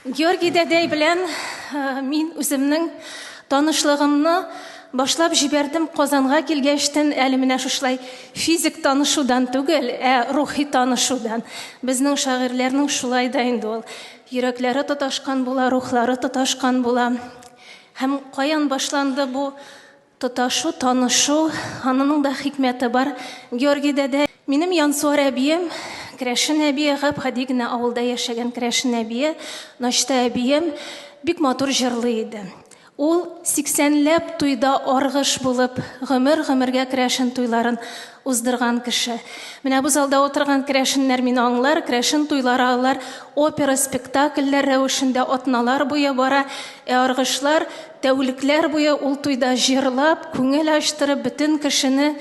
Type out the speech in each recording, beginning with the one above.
Георгий дәдәй белән мин үземнең танышлыгымны башлап җибәрдем. Казанга килгәчтен әле менә шушлай физик танышудан түгел, ә рухи танышудан. Безнең шагыйрьләрнең шулай да инде ул. Йөрәкләре тоташкан була, рухлары тоташкан була. Һәм каян башланды бу Тоташу, танышу, анының да хикмәте бар. Георгий дәдә, минем Янсуар әбием, керәшен әбие, гап-гади генә авылда яшәгән керәшен әбие, Ночта әбием бик матур җырлый иде. Ул сиксәнләп туйда аргыш булып, гомер-гомергә керәшен туйларын уздырган кеше. Менә бу залда утырган керәшеннәр мине аңлар, керәшен туйлары алар опера спектакльләр рәвешендә атналар буе бара, ә аргышлар тәүлекләр буе ул туйда җырлап, күңел ачтырып, бөтен кешене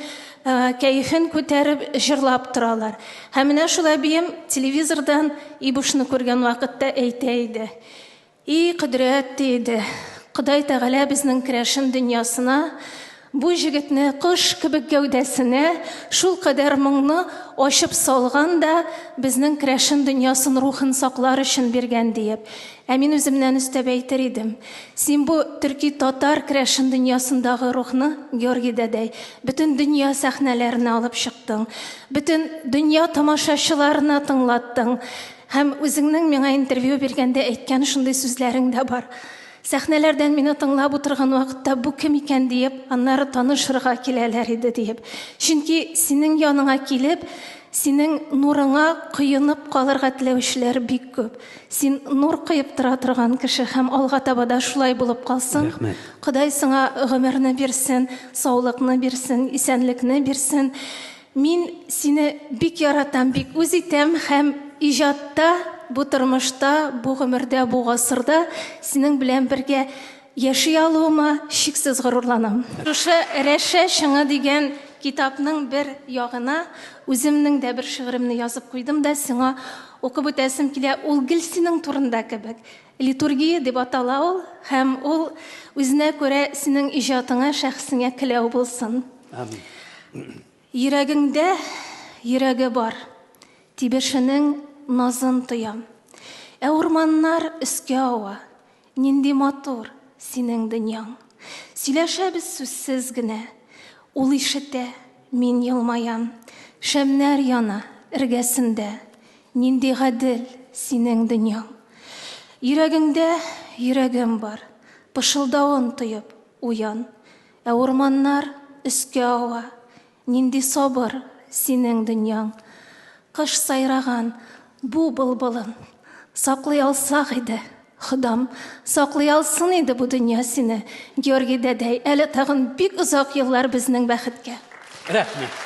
кәефен күтәреп җырлап торалар. Һәм менә шул әбием телевизордан Ибушны күргән вакытта әйтә иде. И кодрәт, ди иде, Ходай Тәгалә безнең керәшен дөньясына бу җегетне кош кебек гәүдәсенә шул кадәр моңны ачып салган да безнең керәшен дөньясын рухын саклар өчен биргән диеп. Ә мин үземнән өстәп әйтер идем, син бу төрки-татар керәшен дөньясындагы рухны Георгий дәдәй, бөтен дөнья сәхнәләренә алып чыктың, бөтен дөнья тамашачыларына тыңлаттың. Һәм үзеңнең миңа интервью биргәндә әйткән шундый сүзләрең дә бар. Сәхнәләрдән мине тыңлап утырган вакытта бу кем икән диеп, аннары танышырга киләләр иде диеп. Чөнки синең яныңа килеп, синең нурыңа коенып калырга теләүчеләр бик күп. Син нур коеп тора торган кеше һәм алга таба да шулай булып калсын. Рәхмәт. Ходай сиңа гомерне бирсен, саулыкны бирсен, исәнлекне бирсен. Мин сине бик яратам, бик үз итәм һәм иҗатта, бу тормышта, бу гомердә, бу гасырда синең белән бергә яши алуыма чиксез горурланам. Шушы Рәшә чыңы дигән китапның бер ягына үземнең дә бер шигыремне язып куйдым да сиңа укып үтәсем килә, ул гел синең турында кебек. Литургия дип атала ул һәм ул үзенә күрә синең иҗатыңа, шәхесеңә келәү булсын. Амин. Йөрәгеңдә йөрәге бар, тибешенең назын тоям. Ә урманнар өскә ава, нинди матур синең дөньяң. Сөйләшәбез сүзсез генә, ул ишетә, мин елмаям. Шәмнәр яна эргәсендә, нинди гадел синең дөньяң. Йөрәгеңдә йөрәгем бар, пышылдавын тоеп уян. Ә урманнар өскә ава. Нинди сабыр синең дөньяң. Кыш сайраган бу былбылын. Саклый алсак иде, Ходам, Саклый алсын иде бу дөнья сине, Георгий дәдәй, Әле тагын бик озак еллар безнең бәхеткә. Рәхмәт.